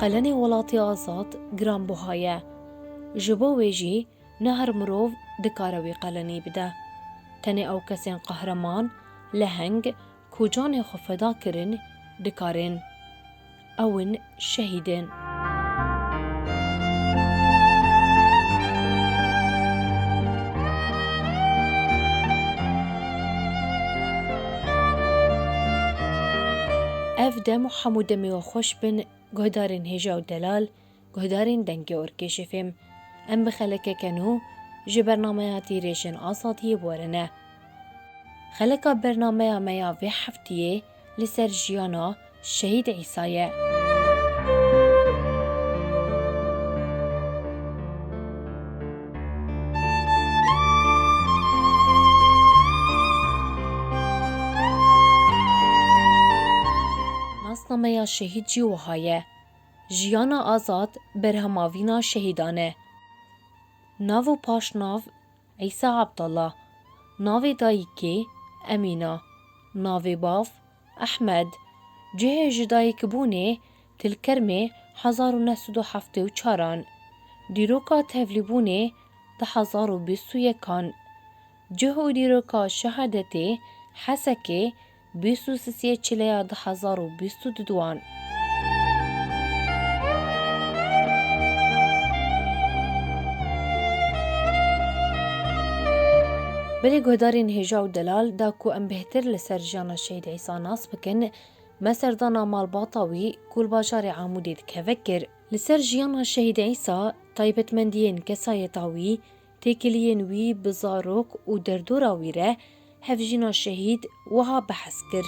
qelenê welatê azad giranbuha ye. Ji bo wê jî ne her mirov dikare wî qelenî bide. Tenê ew kesên qehreman, leheng ku canê xwe feda kirin dikarên. Ew in şehîdên. Ev dem û hemû demê we xweş bin guhdarên hêja û delal, guhdarên dengê orkêşê fêm. Em bi xelekeke nû ji bernameya Tîrêjên Azadiyê werine. Xeleka bernameya me ya vê heftiyê li ser jiyana Şehîd Îsa ye. Nasnameya şehîd jî wiha ye, Jiyana azad berhemavîna şehîdan e. Nav û paşnav, Îsa Abdallah, navê dayîkê, Emîna, navê bav, Ehmed, cihê jidayîkbûnê, Tilkermê, hezar û neh sed û heftê û çar an, dîroka tevlîbûnê, di hezar û bîst û yek an, cih û dîroka şehadetê, Hesekê, bîst û sisiyê çileya di hezar û bîst û du an. Belê guhdarên hêja û delal da ku em bêhtir li ser jiyana Şehîd Îsa nas bikin, me serdana malbata wî ku li bajarê Amûdê dikeve kir. Li ser jiyana Şehîd Îsa, taybetmendiyên kesayeta wî, Têkiliyên wî bi zarok û derdora wî re hevjîna şehîd wiha behs kir.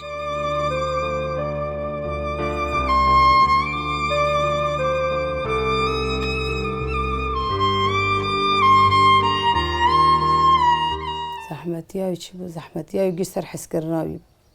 Zehmetiya wî çi bû? Zehmetiya wî giş ser heskirina wî bû.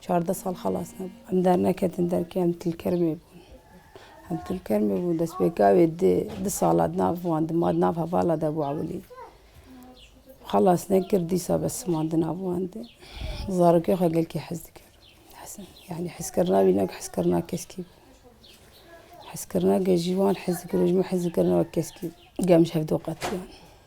Çardeh sal xelas nebûm. Em derneketin derkê em Tilkermê bûn. Em Tilkermê bûn destpêka wê di di sala di nav wan de ma di nav hevala de bû ewilî. Xelas nekir dîsa bes siman di nav wan de. Zarokê xwe gelkî hez dikir. Yanî hezkirina wî ne wek hezkirina keskî bû. Hezkirina gel jî wan hez dikir û ji min hez dikirine wek keskî bû. Gel min ji hev de qetiyan.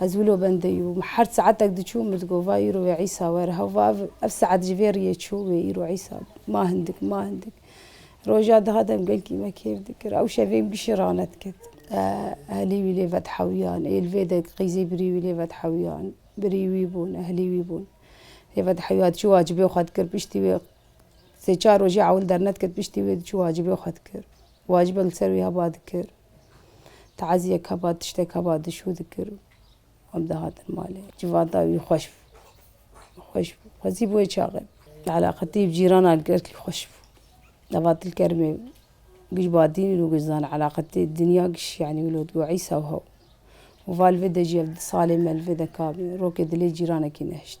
Ez wilo bendê yû. Min her saetek diçû, min digot va îro wê Îsa were. Hewva ev, ev saet ji vê riyê çû, wê îro Îsa bû. Ma hindik, ma hindik. Roja dihat em gelkî me kêf dikir. Ew şevê min bişî ranet ket. Ehlî wî lê vedhewîyan. Ê li vê de qîzê birî wî lê vedhewîyan. Birî wî bûn, ehlî wî bûn. Lê vedhewîya diçû wacibê xwe dikir. Piştî wê sê çar rojê ewil dernedikir, piştî wê diçû wacibê xwe dikir. Wacibek li ser wî heba dikir. Taziyeka ba tişteka ba dişû dikir û em dihatin malê. Civata wî xweş bû. Xweş bû. Xwezî bi wê çaxê bû. Eleqetî bi cîranan li gel kî xweş bû. Nava Tilkerimê giş Badîn û giş Zana eleqetî dinya giş yanî wilo dibû Îsa û hew. Û va li vê de jî ev di salê me li vê de kabî. Rokê dilê cîranekî nehişt.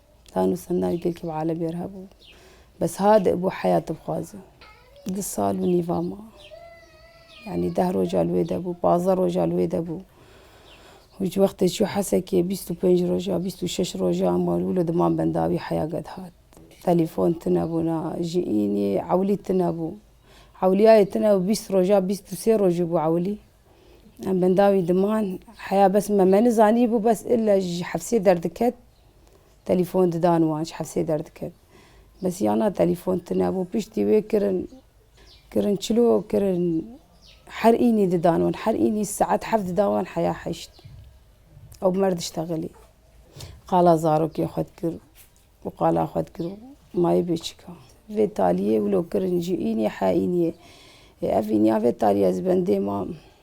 Tan û Sendar gelkî bi Alebî re hebû. Bes ha di bo heya dibixwaze. Di sal û nîva ma. Yanî deh roja li wê de bû, pazdeh roja li wê de bû. Û ji wextê çû Hesekê bîst û pênc roja, bîst û şeş roja ma li wilo diman bendawî heya gedihat. Telîfon tune bû na, ji înî ewilî tune bû. Ewilîyayê tune bû bîst roja, bîst û sê rojî bû ewilî. Em bendawî diman heya bes me me nizanîbû bes ille ji hefsê derdiket. Telîfon didan wan ji hevsê derdikevin. Bes ya na telîfon tune bû. Piştî wê kirin kirin çilo kirin her înî didan wan. Her înî saet heft didan wan heya heşt. Ew bi mer diştexilî. Qala zarokê xwe dikir û qala xwe dikir û mayê bê çika. Vê taliyê wilo kirin ji înî he înî. Ev înîya vê taliya zibendê ma.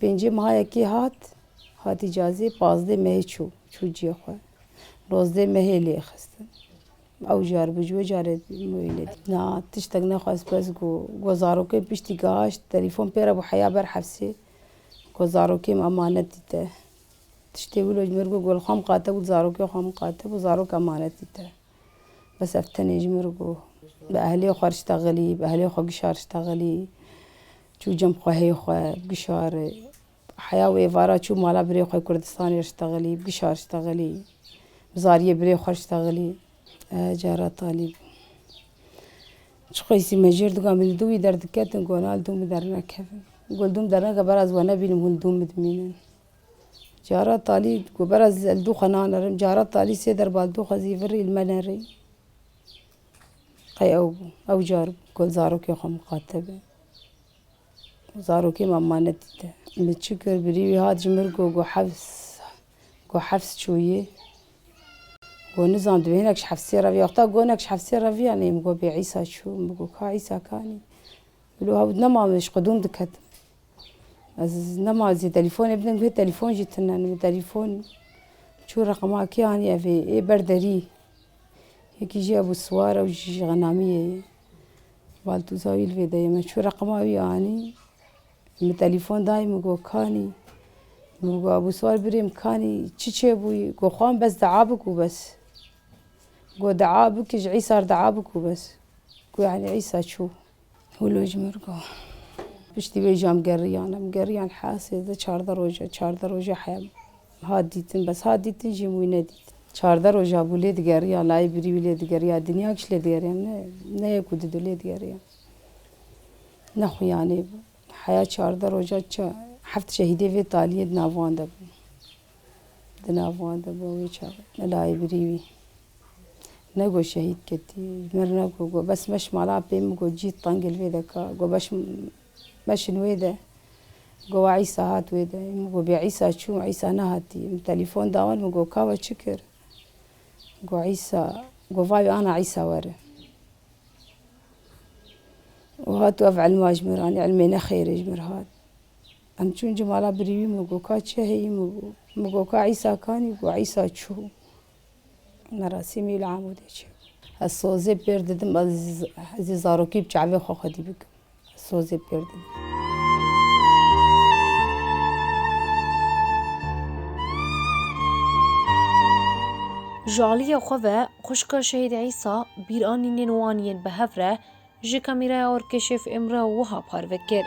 Pêncê mehayekî hat, hatî cazê, pazdê mehê çû, çû ciyê xwe. Nozdê mehê lê xistin. Ew jar bû, ji wê carê wê lê dît. Na tiştek nexwest bes got. Got zarokê piştî gaşt, telîfon pê re bû heya ber hefsê. Got zarokê min emanetî te. Tiştê wilo ji min re got, got li xwe miqate bû, li zarokê xwe miqate bû, zarok emanetî te. Bes ev tenê ji min re got. Bi ehlê xwe re şita xilî, bi ehlê xwe gişa re şita xilî. Çû cem xwehê xwe bigişarê. Heya wê êvara çû mala birê xwe Kurdistanê re şitegelî, bigişar şitegelî. Bi zariyê birê xwe şitegelî. Ehe cara talî bû. Çi qeysî me jêr digan bi li dûmî derdiketin ku ina li dûmî dernekevin. Ku li dûm dernekevin beraz we nebînim hûn li dûmî dimînin. Cara talî ku beraz li dû xwe nanerim. Cara talî sê derba li dû xwe zî virî li me nerî. Qey ew bû. Ew car bû ku li zarokê xwe miqate be. Zarokê me ma nedîte. Min çi kir? Birî wî hat ji mir got ku hefs ku hefs çûyî. Got nizan divê hinek ji hefsê re viya. Wexta got hinek ji hefsê re viya neyê. Min got bê Îsa çû. Min got ka Îsa kanî. Wilo hewt nema min ji qedûm diketim. Ez nema zî telîfonê bidim gotinê telîfon jî tune ne. Min telîfon çû reqema kê anî evê? Ê ber derî. Yekî jî hebû siwar ew jî ji Xenamiyê ye. Baltuzawîl vê deyê min çû reqima wî anî min telefon dayê min got kanî min got abûswar birê min kanî çi çêbûyî got xwe bes dua bik û bes got dua bike ji îsa re dua bik û bes got yanî îsa çû hûlo ji min re got piştî wê jî em geriyane em geriyan hesê di çardeh roje çardeh roje heya Hat dîtin bes hat dîtin jî em wî nedît. Çardeh roja bû lê digeriya layê birî wî lê digeriya dinya kişt lê digeriya ne ne yek û di du lê digeriya ne xuyanê bû heya çardeh roja çi heft şehîdê vê taliyê di nav wan de bû di nav wan de bû wê çar ne layê birî wî ne got şehîd ketî mir ne got got bes meş mala pê min got cî tengê li vê de ka got beş Meşin wê de. Gowa Îsa hat wê de. Min got, Bê Îsa çûm, Îsa nehatiye. Min telîfon da wan, min got, Ka we çi kir? Got, Îsa. Got, Vay wê ana Îsa were. Û hat û ev îlma ji mir anî, îlmê nexêrê ji mir hat. Em çûn cimala birî wî, min got, Ka çi heye? Min got, Ka Îsa kanî? Got, Îsa çû. Merasîmî li Amûdê çêbû. Ez sozê pêr didim, ez ê zarokî bi çavê xwe xwedî bikim. Ez sozê pêr didim. Ji aliyê xwe ve xwişka Şehîd Îsa bîranînên wan yên bi hev re Ji kamîraya Orkeşîf Îmre wiha parve kir.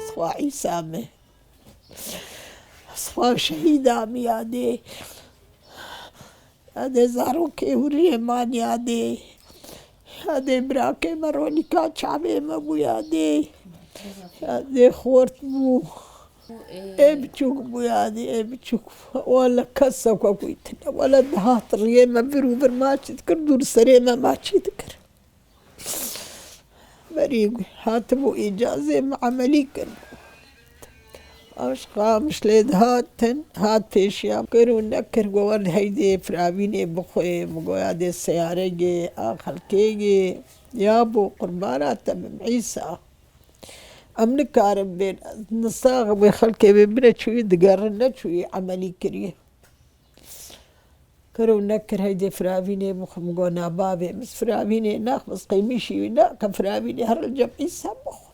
Spa Îsa me. Spa şehîda me ya dê. Ya dê zarokê hûriyê man ya dê. Ya dê birakê me Ronika çavê me bû ya dê ya dê xort bû ê biçûk bû ya dê ê biçûk wele kes xwe goytine wele dihat riyê me vir û vir ma çi dikir dû li serê me ma çi dikir berî hatibû îcazê min emelî kiribû. Aşt qamiş lê dihatin, hat pêşiya kir û nekir ku wan heydê firavînê bixwe min goya dê seyaregê a xelkêgê ya bo qurbana te bim Îsa. Em nikarin bên ez nisaxim wê xelkê wê bine çûyî digerin ne çûyî emelî kirî. Kir û nekir heydê firavînê bixwe min got na bavê min firavînê nax min qêmîşî wî nake firavînê herre li cem Îsa bixwe.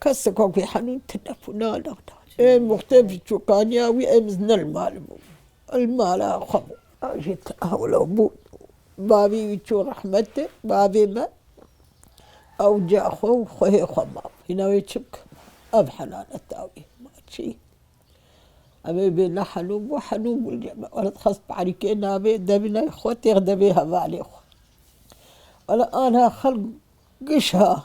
Keseka ku henû telefona neda. Ê muxtê bi çokaniya wî ê min ne li mal bû. Li mala xwe bû. Ji hewla bû bavê wî çû rehmetê bavê me. Ewca xwe û xwehê xwe ma bû. Hîna wê çi bikim? Ev helaleta wî ma çi? Em ê bê ne henû bû henû bû li me. Wala dixwest bi erîkê navê devî navê xwe têx de bê hevalê xwe. Wala aniha xelk giş ha.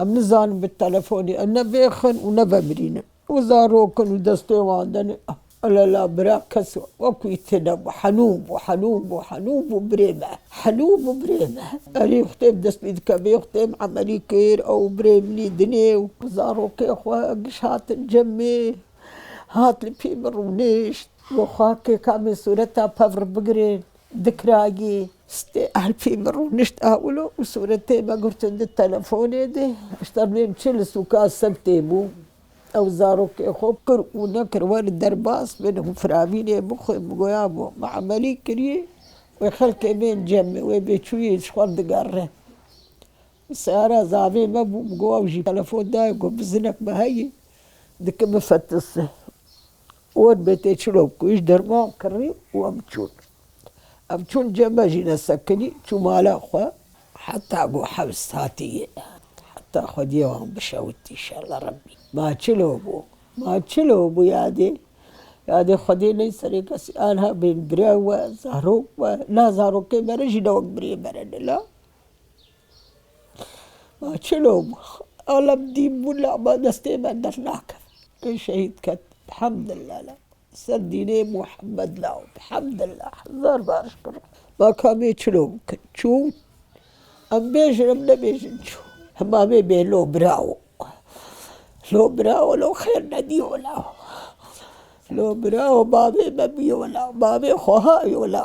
Em nizanin bi telefonê em ne vêxin û ne vemirînin. Wê zarokin û destê wan de ne. Lela bira kes wekî wî tênebû. Henû bû, henû bû, henû bû birê me. Henû bû birê me. Erê xwedê bi dest pê dike vê xwedê min emelî kir. Ew birê min î dinê û zarokê xwe giş hatin cemê. Hat li pî min rûnişt. Goxakê ka min sûreta pevr bigirên. Dikragî, stê Elfî min rûnişt ewlo û sûretê me girtin di telefonê de. Ji tevlêm çi li sûka Sibtê bû. Ew zarokê xwe kir û nekir were derbas min û firavînê bixwe. Min goya bû. Me emelî kiriye. Wê xelkê bên cemê. Wê bêçûyê ji xwe digerre. Seyara zavê me bû. Min got ew jî telefon daye got bi zinek me heye. Dike bifetise. Wan me tê çirok ku ji derman kirî û em çûn. Em çûn cem me jî nesekinî çû mala xwe. Heta ku hewst hatî ye. Heta xwediyê wan bişewit înşallah Rebbî. Ma çilo bû. Ma çilo bû yadê. Yadê xwediyê ney serê kesî. Aniha bên birayê we, zarok we. La zarokên me re jî ne wek biriyên me re ne la. Ma çil û alem dîn bûn lê ma destê me dernakevin. Min şehîd ket elhamdulillah li ser dînê Muhammed la û elhamdulillah hezar bar şikir Rû Ma ka mê çil û bikin çûn em bêjin em nebêjin çûn hima mê bê lo birawo lo birawo lo xêr nedîyo la lo birawo bavê me bîyo la bavê xweha yo la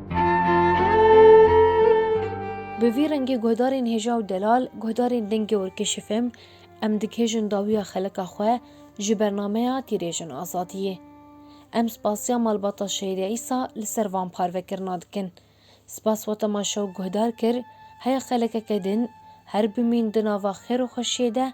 Bi vî rengî guhdarên hêja û delal, guhdarên dengê werkêşifim, em dighêjin dawiya xelika xwe ji bernameya Tîrêjin Azadiyê. Em spasiya malbata Şehîda Îsa li ser van parvekirina dikin. Spas weta ma şew guhdar kir, heya xelekeke din, her bimîn di nava xêr û xweşiyê de